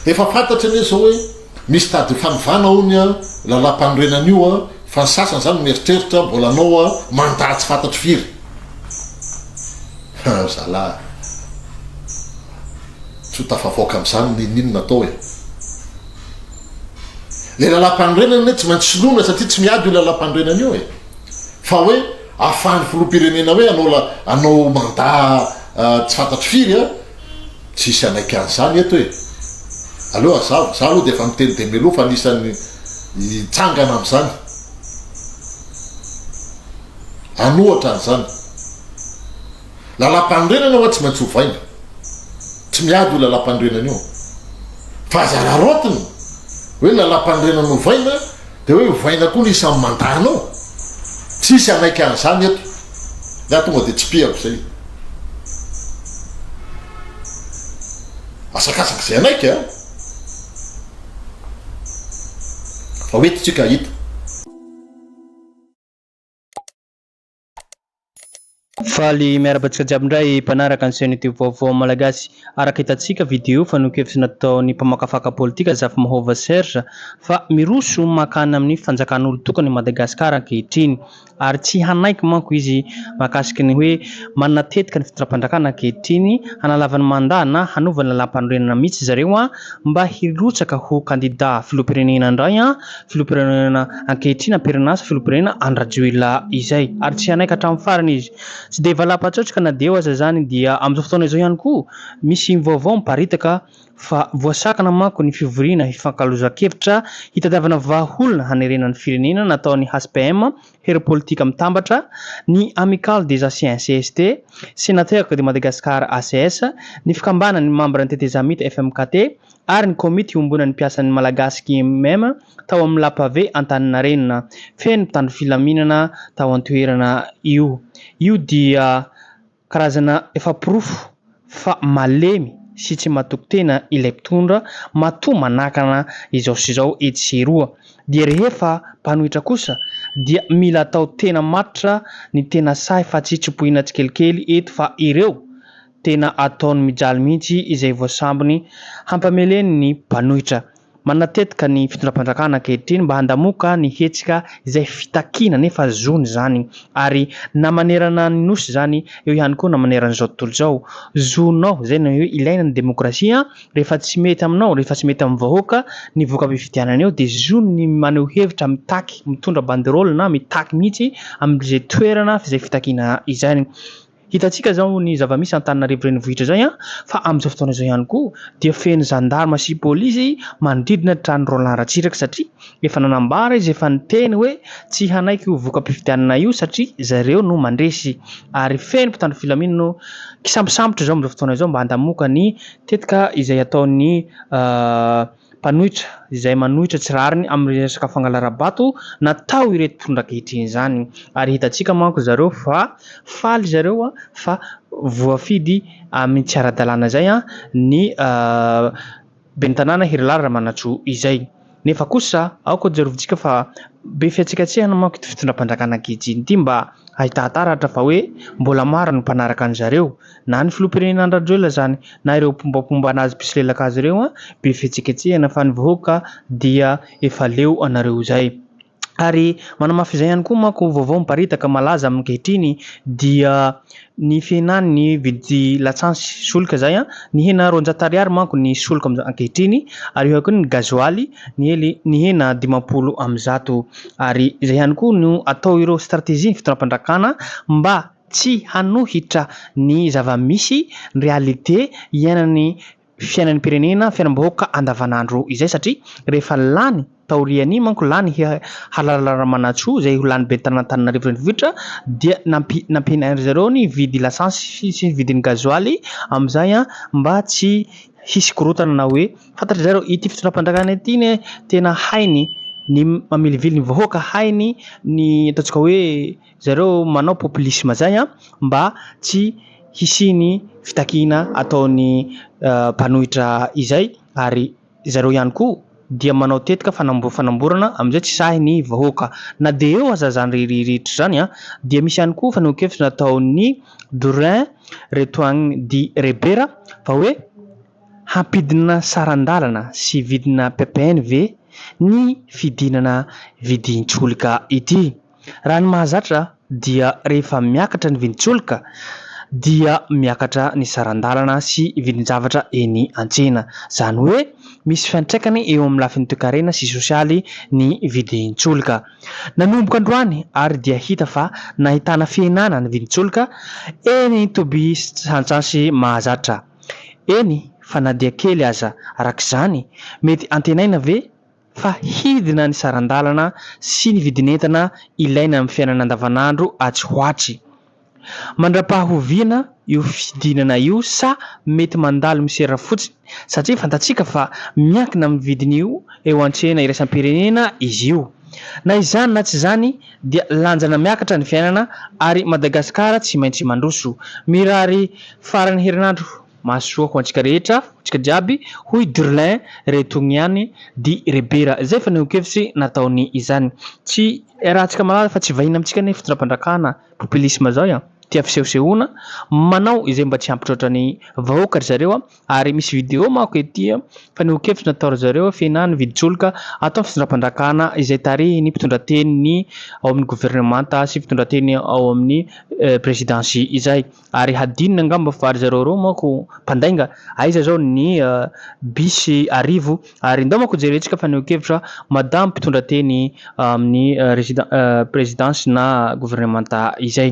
Efa fantatra anie zao hoe misy tady fanovana ao ny lalàmpanorenana io an, fa ny sasany zany mieritreritra mbola anao an mandat tsy fantatro firy an, zalah tsy ho tafavoaka amzany ninoninona atao e. Le lalàmpanorenana anie tsy maintsy soloina satria tsy miady io lalàmpanorenana io e, fa hoe afahan'ny filoham-pirenena hoe anao anao mandat tsy fantatro firy an, Tsisy hanaiky an'izany eto e! Aleo hazava, za aloha dia efa miteny dia mialoha fa anisan'ny hitsangana amin'izany an'ohatra an'izany. Lalampanorenana ho'a tsy maintsy ovaina. Tsy miady io lalampanorenana io. Fa aza araraotina hoe lalampanorenana ovaina Dia hoe ovaina koa ny isan'ny mandalo ao? Tsy hisy hanaiky an'izany eto. Ny ahy tonga dia tsipihako izay. Asakasaka izay hanaiky an! Fa ho eto isika hahita. Faly miarahaba antsika jiaby indray mpanaraka ny chaîne youtube vaovao malagasy. Araka hitantsika video fanehoan-kevitra nataon'ny mpamakafaka politika Zafimahova Serge fa miroso mankany amin'ny fanjakan'olon-tokana i Madagasikara ankehitriny ary tsy hanaiky manko izy mahakasiky ny hoe manana tetika ny fitondram-panjakana ankehitriny hanalava ny mandat na hanova ny lalàmpanorenana mihitsy zareo mba hirotsaka ho kandida filoham-pirenena indray filoham-pirenena ankehitriny am-perinasa filoham-pirenena Andry Rajoelina izay ary tsy hanaiky hatramin'ny farany izy. Tsy dia valapatsaotrika na dia eo aza izany dia amin'izao fotoana izao ihany koa misy vaovao miparitaka fa voasakana manko ny fivoriana hifankalozan-kevitra hitadiavana vahaolana hanerena ny firenena nataon'ny HPM, Hery Politika Mitambatra, ny Amicale des Anciens cst, Sénateurs de Madagascar acs, ny Fikambanan'ny mambran'ny Tetezamita FMKT, ary ny Komity iombonan'ny mpiasan'ny Malagasy KMM tao amin'ny Lapave Antaninarenina. Feno mpitandro filaminana tao an-toerana io. Io dia karazana efa porofo fa malemy sy tsy matoky tena ilay mpitondra matoa manakana izao sy izao etsy sy eroa. Dia rehefa mpanohitra kosa dia mila atao tena matotra ny tena sahy fa tsy tsipohina tsikelikely eto fa ireo Tena ataony mijaly mihitsy izay voasambony hampameleny ny mpanohitra. Manatetika ny fitondram-panjakana ankehitriny mba handamoka ny hetsika izay fitakiana nefa zony izany ary na manerana ny Nosy izany eo ihany koa na maneran'izao tontolo izao. Zonao izay no hoe ilaina ny demokrasia an! Rehefa tsy mety aminao, rehefa tsy mety amin'ny vahoaka ny voka-pifidianana eo dia zony ny maneho hevitra, mitaky, mitondra banderole na mitaky mihitsy amin'izay toerana izay fitakiana izay. Hitantsika izao ny zava-misy Antananarivo renivohitra izay an, fa amin'izao fotoana izao ihany koa dia feno zandarma sy polisy manodidina ny tranon'i Roland Ratsiraka satria efa nanambara izy efa niteny hoe tsy hanaiky io voka-pifidianana io satria zareo no mandresy ary feno mpitandro filamina no kisambosambotra izao amin'izao fotoana izao mba handamoka ny tetika izay ataon'ny mpanohitra izay manohitra tsy rariny amin'ny resaka fangalarabato natao ireto mpitondra ankehitriny izany ary hitantsika manko zareo fa faly zareo fa voafidy amin'ny tsy ara-dalàna izay ny ben'ny tanàna Herilala Ramanantsoa izay nefa kosa aoka jerovintsika fa be fihatsikatsikana manko ity fitondram-panjakana ankehitriny ity mba hahitaha taratra fa hoe mbola maro ny mpanaraka an'zareo Na ny filoham-pirenena Andry Rajoelina izany na ireo mpiombapomba anazy mpisolelaka azy ireo an, be fihetsiketsehana fa ny vahoaka dia efa leo anareo izay. Ary manamafy izay ihany koa manko vaovao miparitaka malaza amin'ankehitriny dia ny fihenan'ny vidy latsansy solika izay an, nihena roanjato ariary manko ny solika amin'izao ankehitriny ary eo ihany koa ny gazoaly niely nihena dimampolo amby zato ary izay ihany koa no atao ireo strategie ny fitondram-pandrakana mba Tsy hanohitra ny zava-misy, ny réalité, iainan'ny fiainan'ny mpirenena, fiainam-bahoaka andavanandro izay satria rehefa lany taorian'iny manko lany Halala Ramanantsoa izay ho lany ben'ny tanàn'Antananarivo Renivohitra dia nampiana ry zareo ny vidy lasantsy sy ny vidin'ny gazoaly amin'izay mba tsy hisy korontana na hoe fantatry zareo ity fitondram-panjakana ity anie tena hainy ny mamilivily ny vahoaka, hainy ny ataontsika hoe. Zareo manao populisme zay an mba tsy hisiany fitakiana ataony mpanohitra izay ary zareo ihany koa dia manao tetika fanambofanamborana amizay tsy sahy ny vahoaka na dia eo aza zany reherehetra zany an dia misy ihany koa fanehoankevitra nataony Dorin Retoagny di Rebera fa hoe hampidina sarandalana sy vidina ppn ve ny fidinana vidintsolika ity. Raha ny mahazatra dia rehefa miakatra ny vidin-tsolika dia miakatra ny saran-dalana sy vidin-javatra eny an-tsena. Izany hoe misy fiantraikany eo amin'ny lafiny toekarena sy sosialy ny vidin-tsolika. Nanomboka androany ary dia hita fa nahitana fihenana ny vidin-tsolika eny Toby sy Antsansy mahazatra eny fa na dia kely aza. Araka izany, mety antenaina ve? fa hidina ny saran-dalana sy ny vidin'entana ilaina amin'ny fiainana andavanandro atsy ho atsy. Mandra-pahoviana io fidinana io sa mety mandalo misera fotsiny satria fantatsika fa miankina amin'ny vidiny eo an-tsena iraisam-pirenena izy io. Na izany na tsy izany dia lanjana miakatra ny fiainana ary Madagasikara tsy maintsy mandroso. Mirary faran'ny herinandro. Mahasoa ho antsika rehetra, ho antsika jiaby, hoy Durlain, re tony ihany, di re bera. Izay fanehoan-kevitry nataony izany. Tsy iarahantsika malala fa tsy vahiny amintsika ny fitondram-panjakana popilisma izao a. Tia fisehosehoana, manao izay mba tsy hampitroatra ny vahoaka ry zareo ary misy video manko ety fanehoan-kevitry natao ry zareo fena ny vidin-tsolika ataon'ny fitondram-panjakana izay tarihin'ny mpitondrateny ny ao amin'ny governemanta sy mpitondrateny ao amin'ny prezidansy izay. Ary hadinony angamba fa ry zareo ireo manko mpandainga, aiza zao ny bus arivo ary ndao manko jerentsika fanehoan-kevitra madame mpitondra teny amin'ny presidence na gouvernementa izay.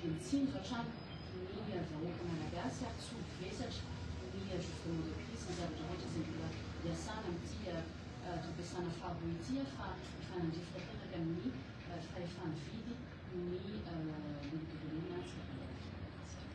dia mitsinjo hatrany ny vahoaka malagasy ary tsy ho vesatra ny gouvernement de crise sy ny zavatra rehetra izay mbola hiasana amin'ity toe-piasana faharoa ity fa efa nandrifotra tanaka ny fahefa-mividy ny olom-pirenena tsy mpandalina Madagasikara.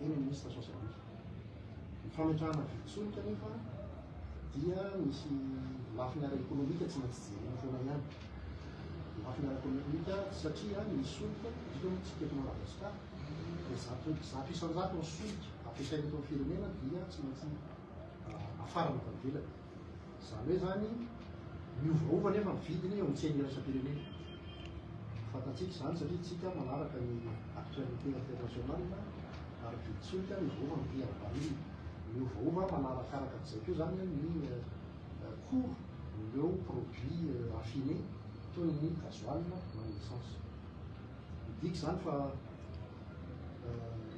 eny amin'ny liste social media. Ny fametrahana vidin-tsolika anefa dia misy lafiny ara-ekonomika tsy maintsy jerena foana ihany. Ny lafiny ara-ekonomika satria ny solika, indrindra moa isika eto Madagasikara, dia zato zato isan-jato ny solika ampiasaina eto amin'ny firenena dia tsy maintsy afarana avy any ivelany. Izany hoe izany, miovaova anefa ny vidiny eo amin'ny tsena iraisam-pirenena. Fantatsika izany satria isika manaraka ny actualité internationale ary be tsolika miovaova ny prix à la barille. Miovaova manarakaraka an'izay koa izany ny cours ireo produits raffinés toy ny gasoil na ny essence. Midika izany fa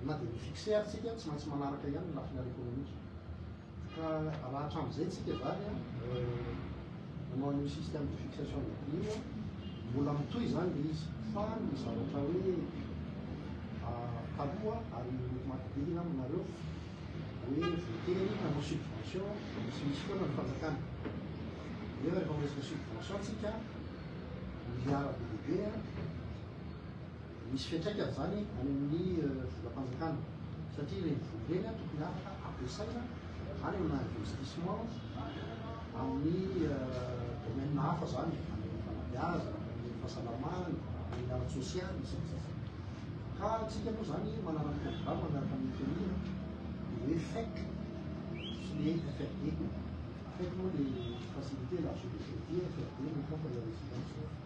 na dia mi-fixer isika tsy maintsy manaraka ihany ny lafiny ara-ekonomika. Ka raha hatramin'izay tsika zany an, nanao an'io système de fixation des prix io an, mbola mitohy izany le izy fa ny zavatra hoe taloha ary mampidihina aminareo hoe voatery hanao subvention tsy misy foana ny fanjakana nefa rehefa miresaka subvention tsika milliard be dia be an, Misy fiantraikany izany any amin'ny volam-panjakana satria ireny vola ireny tokony afaka ampiasaina any amina investissement amin'ny domaine hafa izany, any amin'ny fanabeazana, any amin'ny fahasalamana, amin'ny ara-tsosialy sy ny sisa. Ka antsika moa izany manana ny programme miaraka amin'ny FMI dia hoe FEC sy ny FRD. FEC moa dia facilité à l'achat de crédit, FRD no fonds pour l'investissement.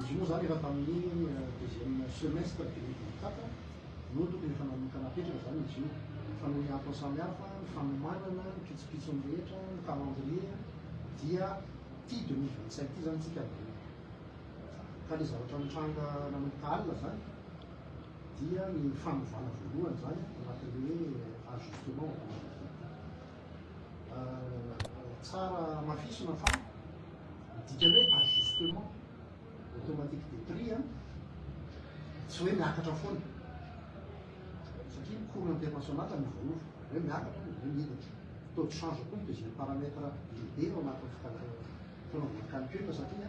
Izy io moa izany efa tamin'ny deuxième semestre deux mille vingt quatre no tokony efa nanomboka napetraka izany izy io fa noho ny antony samihafa, ny fanomanana, ny pitsopitsony rehetra, ny calendrier dia ity deux mille vingt cinq ity izany isika no eo. Ka ilay zavatra nitranga nanomboka alina izany dia ny fanovana voalohany izany anatin'ny hoe ajustement au calendrier. tsara hamafisina fa ny dikan'ny hoe ajustement automatique des prix a, tsy hoe miakatra foana. Satria ny cours international no voaova, hoe miakatra ny hoe miditra. Taux de change koa no deuxième paramètre lehibe ao anatin'ny fanaovana calcul satria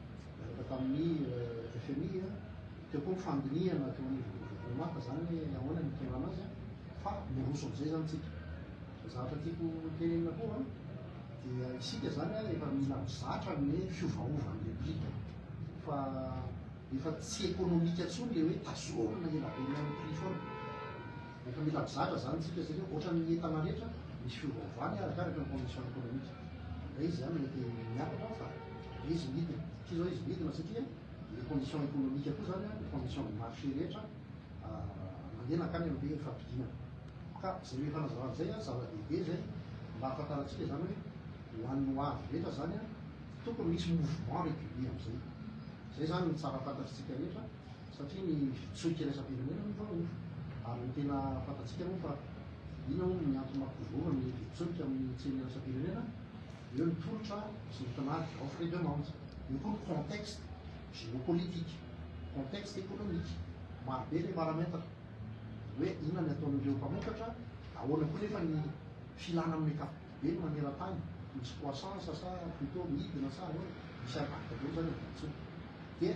tamin'ny FMI teo koa ny fandinihana teo anivon'ny gouvernement fa zany hoe ahoana ny hitondrana azy fa miroso amizay zany tsika zavatra tiako tenenina koa dia isika zany efa mila mizatra ny fiovaovan'ny replika fa efa tsy ekonomika tsony le hoe tazomina elabe ny prix foana Efa mila mizatra zany tsika satria ohatran'ny entana rehetra misy fiovaovany arakaraka ny condition économique. Ndray izy zany mety miakatra fa be izy midina. Ity zao izy midina satria le condition économique koa zany le condition de marché rehetra mandeha nankany amin'ny hoe fampidinana. Ka zay hoe fanazavana izay zava-dehibe zay mba hahafantarantsika zany hoe ho an'ny ho avy rehetra zany tokony misy mouvement régulier amin'izay. Zay zany ny tsara fantatritsika rehetra. satria ny fitsoika iraisam-pirenena no vahoaka ary ny tena fantatsika moa fa ina hono ny antony maha mpivory ny fitsoika amin'ny tsena iraisam-pirenena eo ny tolotra sy ny tinady, offre et demande, eo koa ny contexte géopolitique, contexte économique, marobe ilay paramètre hoe inona ny ataon'ireo mpamokatra, ahoana koa nefa ny filana amin'ny ankapobeny maneran-tany, misy croissance sa plutôt midina sa ahoana, misy impact daholo izany amin'ny volontsoa dia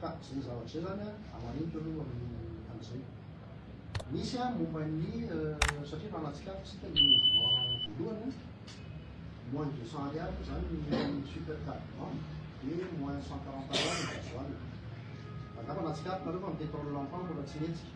Ka izay zavatra izay zany a, manentona aloha amin'ny amin'izay. Misy a momba ny satria raha nahatsikaritra isika ny mouvement voalohany a, moins deux cent ariary zany ny super carburant dia moins cent quarante ariary ny gasoil. Angamba nahatsikaritra nareo fa ny pétrole lampant mbola tsy nihetsika.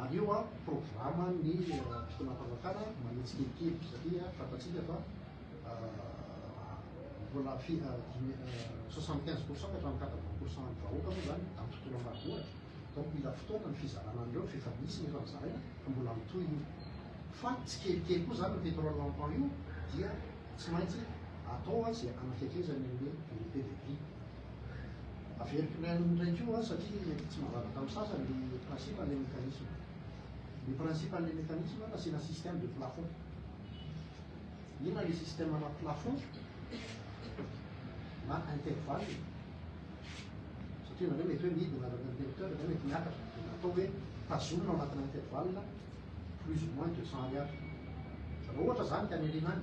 Ary io an programa ny fitonam-panjakana manintsy kelikely satria fantatsika fa mbola soixante quinze pourcent ka hatramin'ny quatre vingt pourcent ny vahoaka moa zany amin'ny tontolo ambanivohitra donc mila fotoana ny fizarana an'ireo f'efa misy ny efa nozaraina fa mbola mitohy io fa tsy kelikely koa zany ny pétrole lampant io dia tsy maintsy atao izay anafekezany an'le unité de prix Averiko ny an'ny iray koa satria mety tsy manavaka amin'ny sasany ny principe an'ilay mécanisme. Ny principe an'ilay mécanisme nasiana système de plafond. Inona ilay système ana plafond na intervalle satria nareo mety hoe midina avy amin'ny interrupteur dia mety miakatra dia natao hoe tazomina ao anatinà intervalle plus ou moins deux cents ariary. Raha ohatra izany ka ny alinany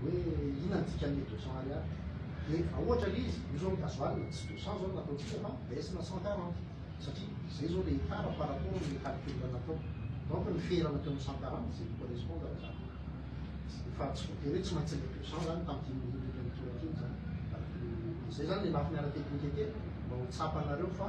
Hoe inona ny dikan'ny deux cents ariary? Dia raha ohatra le izy, io zao ny gasoil dia tsy deux cents zao no nataontsika fa baisse na cent quarante satria zay zao le écart par rapport amin'ny calcul natao. Donc ny ferana teo amin'ny cent quarante dia zay no correspondre raha zany. Fa tsy voatery hoe tsy maintsy le deux cents zany tamin'ity minute ity mitoraka iny zany. Zay zany le lafiny ara-teknika kely mba ho tsapanareo fa.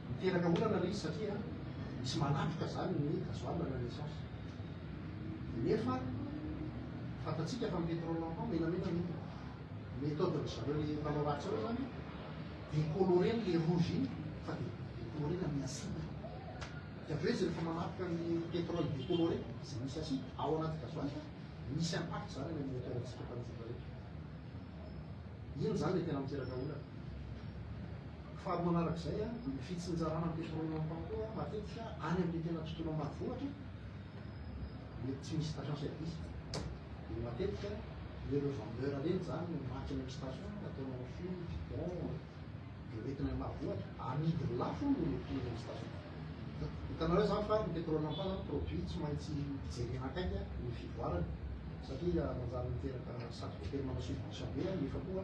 Miteraka olana ilay izy satria misy manatrika izany ny gasoil na ny essence. Nefa fantatsika fa ny pétrole lampant menamena ny lokony. Méthode ry zareo le mpanao ratsy ireo izany décolorer ny le rouge iny fa dia décolorer-na amin'ny acide. Dia avy eo izy rehefa manatrika ny pétrole décoloré izay misy acide ao anaty gasoil misy impact izany any amin'ny moteur-ntsika mpanjotra rehetra. Iny izany ilay tena miteraka olana. Faharoa manaraka izay, ny fitsinjarana ny développement koa matetika any amin'ny tena tontolo ambanivohitra, mety tsy misy station service dia matetika le revendeur ireny izany no maty any amin'ny station, ataony en fil, bidon, dia ho entina any ambanivohitra, amidiny lafo hono ilay prix eny amin'ny station. Hitanareo izany fa ny pétrole en panne produit tsy maintsy jerena akaiky ny fivoarany satria manjary miteraka sady voatery manao subvention be nefa koa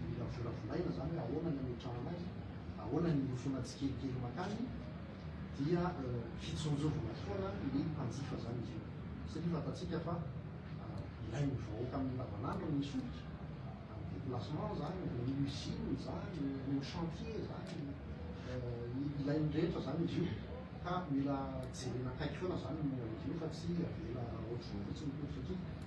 Mila volavolaina izany hoe ahoana ny hametrahana azy, ahoana ny hirosoana tsikelikely mankany, dia hitsinjovina foana ny mpanjifa izany izy io. Satria fantatsika fa ilain'ny vahoaka amin'ny andavanandro ny solika, amin'ny déplacement izany, ny usine izany, ny chantier izany, ilain'ny rehetra izany izy io, ka mila jerena akaiky foana izany ny momba izy io fa tsy avela aotr'io fotsiny ny politika.